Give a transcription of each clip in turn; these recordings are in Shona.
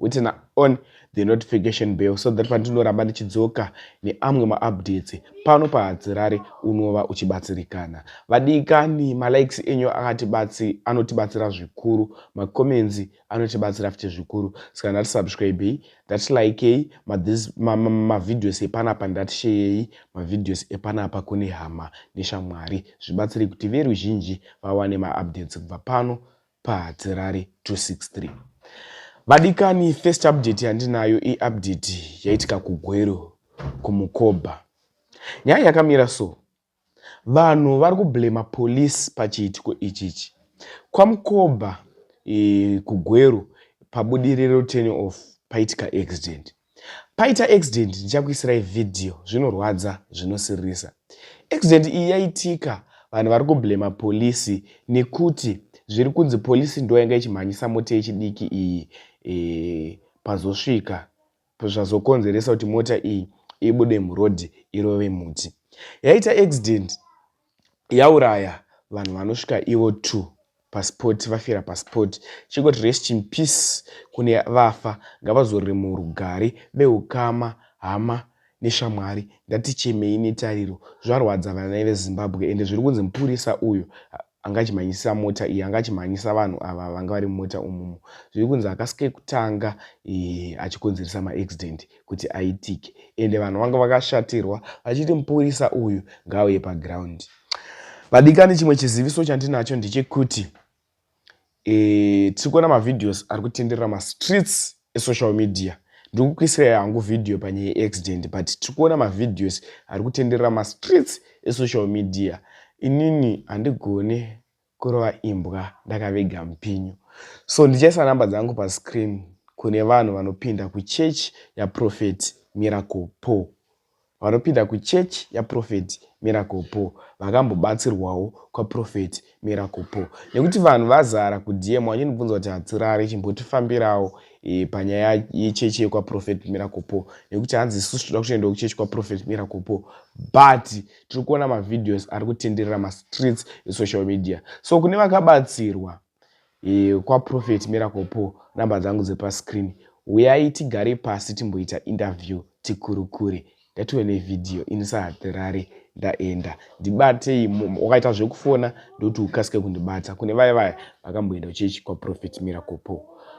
Witna on the notification bell so that pandinoramba ndichidzoka neamwe maupdates pano pahadzirare unova uchibatsirikana. Vadikani malikes enyu akatibatsi anotibatsira zvikuru, macomments anotibatsira futi zvikuru. Saka ndati subscribei, ndati likei mavideos ma, ma, ma epanapa, ndati sheyei mavideos epanapa kune hama neshamwari zvibatsire kuti veruzhinji vawane maupdates kubva pano paHatirare 263. Vadikani first update yandinayo i update yaitika kuGweru kuMukoba. Nyaya yakamira so, vanhu vari kublamer police pachiitiko ichichi. KwaMukoba kuGweru pabudiriro turn off paitika accident. Paita accident ndichakuisirai video zvinorwadza zvinosiririsa. Accident iyi yaitika vanhu vari kublamer police nekuti zviri kunzi police ndoyanga ichimhanyisa mota yechidiki iyi e, pazosvika zvazokonzeresa kuti mota iyi ibude muroad irove muti. Yaita accident yauraya vanhu vanosvika ivo two paspot vafira paspot chingoti rest in peace kune vafa ngavazorore murugare vehukama hama neshamwari ndatichemei netariro zvarwadza vana vezimbabwe ende zviri kunzi mupurisa uyo angachimhanyisisa mota iyi angachimhanyisa vanhu ava vanga vari mumota umumu zviri kunzi akasike kutanga eh, achikonzeresa maaccident kuti aitike ende vanhu vanga vakashatirwa vachiti mupurisa uyu ngaauye paground vadikani chimwe chiziviso chandinacho ndechekuti e, tiri kuona mavideos ari kutenderera mastreets esocial media ndiri kukuisirai hangu vhidhiyo panyaya yeaccident but tiri kuona mavhideos ari kutenderera mastreets esocial media inini handigone kurova imbwa ndakaviga mupinyu so ndichaisa number dzangu pa screen kune vanhu vanopinda ku church ya prophet miracle Paul vanopinda ku church ya prophet miracle Paul vakambobatsirwawo kwa prophet miracle Paul nekuti vanhu vazara ku dm vachinibvunza kuti hatirare chimbotifambirawo e, panyaya yechechi yekwa prophet miracle Paul nekuti hanzi isusu toda kutoendawo kuchechi kwa prophet miracle Paul but tiri kuona mavideos ari kutenderera mastreets esocial media so kune vakabatsirwa e, kwaprophet miracle po namba dzangu dzepascreen huyai tigare pasi timboita interview tikurukure ndatiwe nevideo ini sahatirari ndaenda ndibatei wakaita zvekufona ndokuti ukasike kundibata kune vaye vaya vakamboenda kuchechi kwaprofet miracle po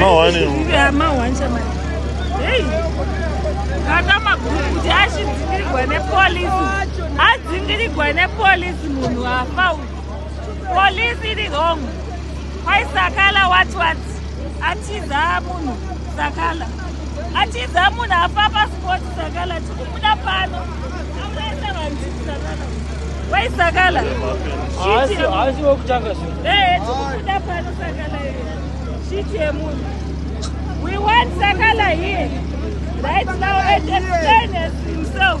Mawani. Yeah, mawani chama. Hey. Kata magurukuti ashidzingirigwa nepolisi. Adzingirigwa nepolisi munhu afa uyu. Police iri wrong. Kwaisakala what what. Atiza munhu. Sakala atiza munhu afa pasport Sakala tikumuda pano amunaisa vanhu Sakala wai Sakala haasi wekutanga zvino eh tikumuda pano Sakala shit yemunhu we want Sakala here right now and explain himself